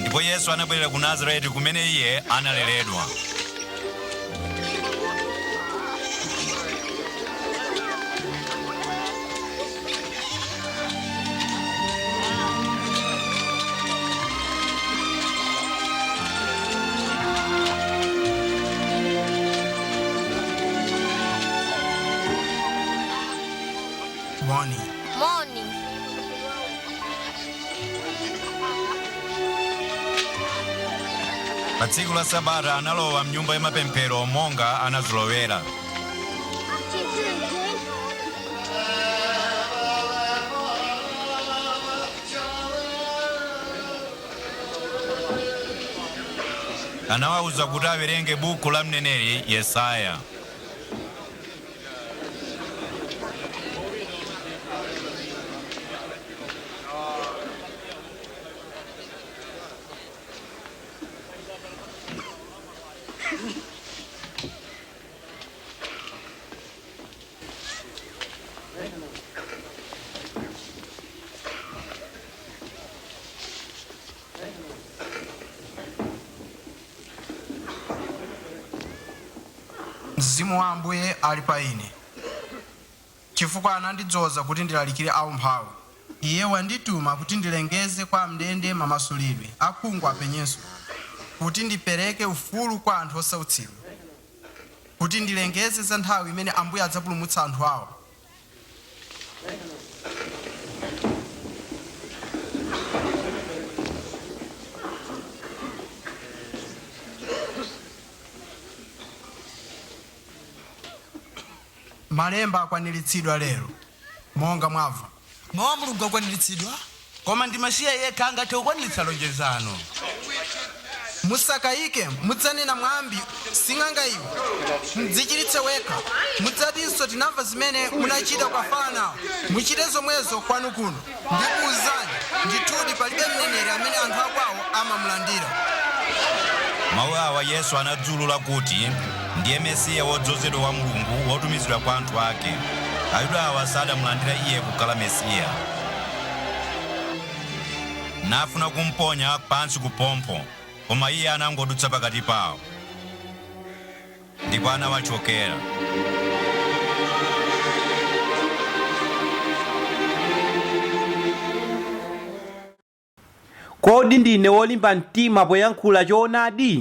Ndipo Yesu anabwerera ku Nazareti kumene iye analeredwa. Pa tsiku la Sabata analowa m'nyumba ya mapemphero monga anazolowera. anamuwuza kuti awerenge buku la mneneri Yesaya. mzimu wa ambuye ali pa ine Chifukwa anandidzoza kuti ndilalikire aumphawi. Iye wandituma kuti ndilengeze kwa am'ndende mamasulidwe, akhungu apenyenso, kuti ndipereke ufulu kwa anthu osautsidwa, kuti ndilengeze za nthawi imene Ambuye adzapulumutsa anthu awo. Malemba akwaniritsidwa lero, monga mwamva. Mawu a Mulungu akwaniritsidwa. Koma ndi Masiya yekha angathe kukwaniritsa lonjezano. Musakayike, mudzanena mwambi, Sing'anga iwe, mdzichiritse wekha. Mudzatinso, Tinamva zimene munachita ku Kafarnao, muchite zomwezo kwanu kuno. Ndikuuzani, ndithudi palibe mneneri amene anthu a kwawo amamulandira. Mawu awa Yesu anadziulula kuti ndiye Mesiya wodzozedwa wa Mulungu wotumizidwa kwa anthu ake. Ayuda awa sanamulandira iye kukhala Mesiya. Nafuna kumponya pansi kupompho, koma iye anangodutsa pakati pao. Ndipo anawachokera. Kodi Ndine Wolimba Mtima Poyankhula Choonadi?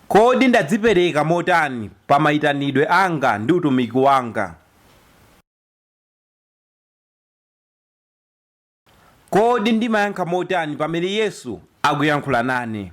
Kodi Ndadzipereka Motani pa Maitanidwe Anga ndi Utumiki Wanga? Kodi ndimayankha motani pamene Yesu akuyankhula nane?